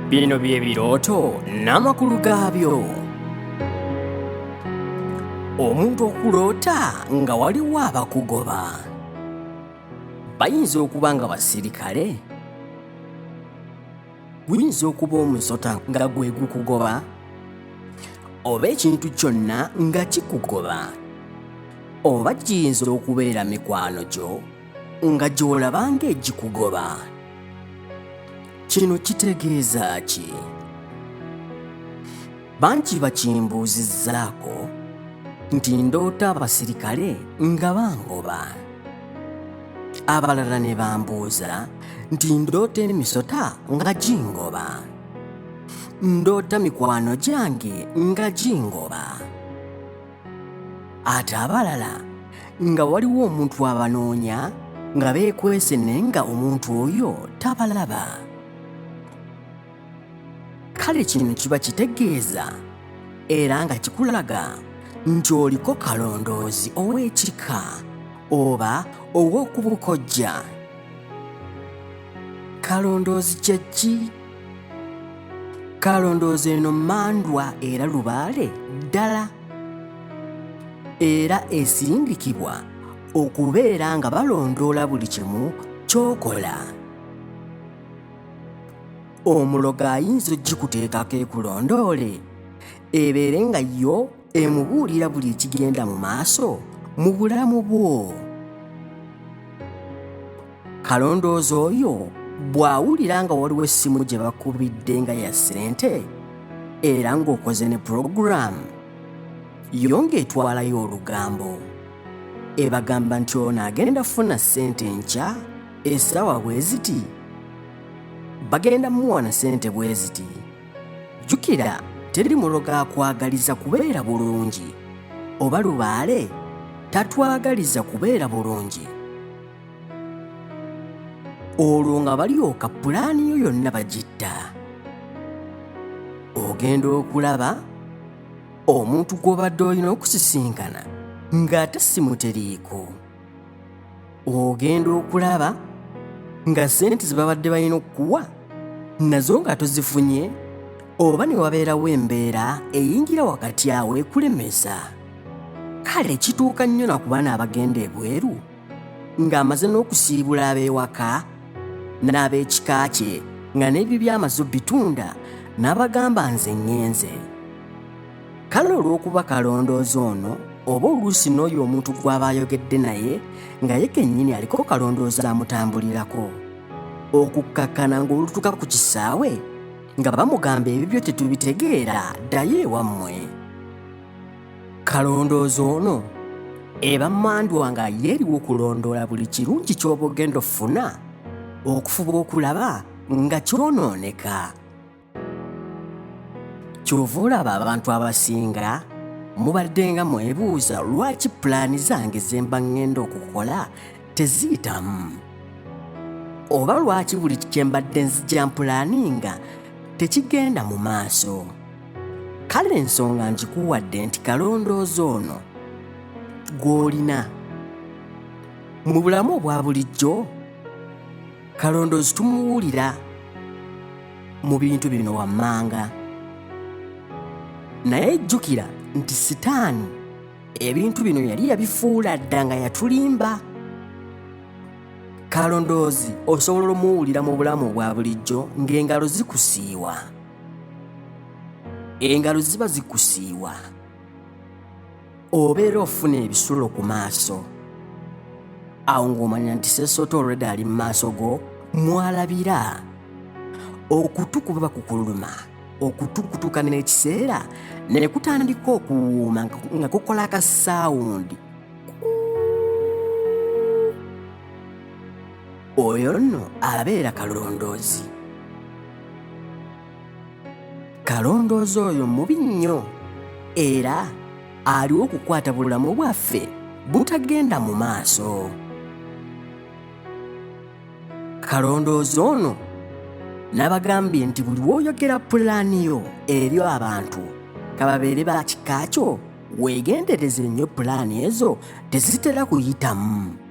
Bino bye birooto n'amakulu gaabyo. Omuntu okuloota nga waliwo abakugoba. Bayinza okuba nga basirikale. Guyinza okuba omusota nga gwe gukugoba. Oba ekintu kyonna nga kikugoba. Oba giyinza okubeera mikwano gyo nga gy'olaba ng'egikugoba kino kitegeeza ki bangi bakimbuuzizzaako nti ndoota abasirikale nga bangoba abalala ne bambuuza nti ndoota emisota nga gingoba ndoota mikwano gyange nga gingoba ate abalala nga waliwo omuntu abanoonya nga beekwese naye nga omuntu oyo tabalaba kale kino kiba kitegeeza era nga kikulaga nti oliko kalondoozi ow'ekika oba ow'okubukojja kalondoozi kye ki kalondooza eno mandwa era lubaale ddala era esindikibwa okubeera nga balondoola buli kimu kyokola omulogo ayinza okugikuteekako ekulondoole ebeere nga yo emubuulira buli ekigenda mu maaso mu bulamu bwo kalondoozi oyo bw'awulira nga waliwo essimu gye bakubidde nga ya ssente era ng'okoze ne pulogulaamu yo ng'etwalayo olugambo ebagamba nti ono agenda funa ssente enkya essaawa bwe ziti bagenda muwa na ssente bwe ziti jjukira teri muloga akwagaliza kubeera bulungi oba lubaale tatwagaliza kubeera bulungi olwo nga balyoka pulaani yo yonna bagitta ogenda okulaba omuntu gw'obadde olina okusisinkana ng'ate simuteriiko ogenda okulaba nga ssente ze babadde balina okukuwa nazo nga tozifunye oba ne wabeerawo embeera eyingira wakati awo ekulemesa kale kituuka nnyo na ku baana abagenda ebweru ng'amaze n'okusiibula ab'ewaka n'ab'ekika kye nga n'ebyo by'amaze obitunda n'abagamba nze ŋŋenze kale olw'okuba kalondoozi ono oba oluusi n'oyo omuntu gw'aba ayogedde naye nga ye kennyini aliko kalondoozi amutambulirako okukkakkana ng'olutuka ku kisaawe nga bamugamba ebibyo tetubitegeera ddayo ewammwe kalondoozi ono eba mandwa nga yeeriwo okulondoola buli kirungi ky'oba ogenda ofuna okufuba okulaba nga kyonooneka kyova olaba abantu abasinga mubadde nga mwebuuza lwaki pulaani zange zemba ŋŋenda okukola teziyitamu oba lwaki buli kyembadde nzija mpulaaninga tekigenda mu maaso kale ensonga nkikuwadde nti kalondoozi ono gw'olina mu bulamu obwa bulijjo kalondoozi tumuwulira mu bintu bino wammanga naye jjukira nti sitaani ebintu bino yali yabifuula dda nga yatulimba kalondoozi osobola omuwulira mu bulamu bwa bulijjo ng'engalo zikusiiwa engalo ziba zikusiiwa obeera ofuna ebisulo ku maaso awo ng'omanya nti sesoota olwedde ali mu maaso go mwalabira okutu kuba bakukuluma okutukutuka n'ekiseera ne kutandika okuwuuma nga kukola akasaawundi oyo nno abeera kalondoozi kalondoozi oyo mubi nnyo era aliwo okukwata bulamu bwaffe butagenda mu maaso kalondoozi ono n'abagambye nti buli woyogera pulaani yo eri abantu kababeere ba kika kyo weegendereze nnyo pulaani ezo tezitera kuyitamu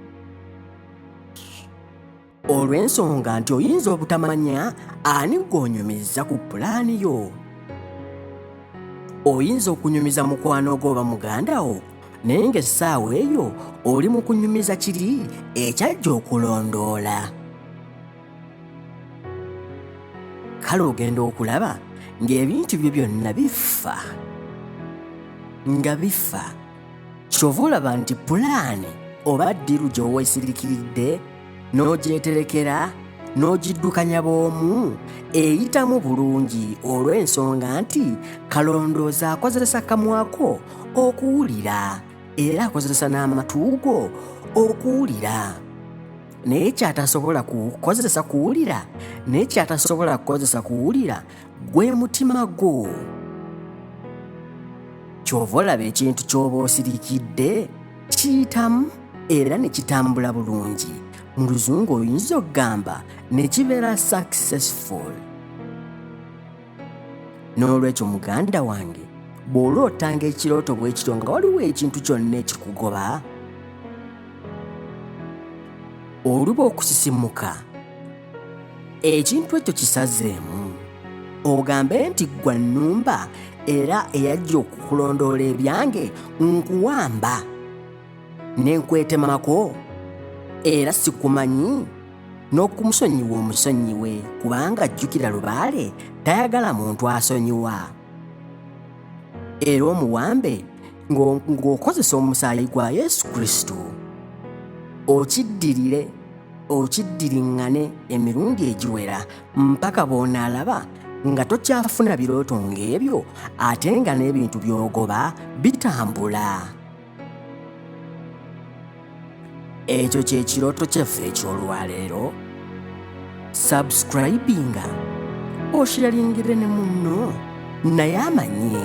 olw'ensonga nti oyinza obutamanya ani gw'onyumiza ku pulaani yo oyinza okunyumiza mukwano gwo oba muganda wo naye ng'essaawa eyo oli mu kunyumiza kiri ekyajja okulondoola kale ogenda okulaba ng'ebintu byo byonna bifa nga bifa kyova olaba nti pulaani oba ddiru gy'oweesirikiridde n'ogyeterekera n'ogiddukanya bw'omu eyitamu bulungi olw'ensonga nti kalondoozi akozesa kamwa ko okuwulira era akozesa n'amatu go okuwulira naye kyatasobola kukozesa kuwulira naye kyatasobola kukozesa kuwulira gwe mutima gwo kyova olaba ekintu ky'oba osirikidde kiyitamu era ne kitambula bulungi mu luzungu oyinza okugamba ne kibeera successful n'olwekyo muganda wange bw'olootanga ekirooto bwe kityo nga waliwo ekintu kyonna ekikugoba oluba okusisimuka ekintu ekyo kisazeemu ogambe nti ggwa nnumba era eyajja okukulondoola ebyange nkuwamba ne nkwetemako era sikumanyi n'okumusonyiwa omusonyiwe kubanga ajjukira lubaale tayagala muntu asonyiwa era omuwambe ng'okozesa omusaayi gwa yesu kristo okiddirire okiddiriŋŋane emirundi egiwera mpaka bw'onaalaba nga tokyafuna birooto ng'ebyo ate nga n'ebintu by'ogoba bitambula ekyo kye kirooto kyaffe eky'olwaleero sabusikurayibinga okiralingire ne munno naye amanye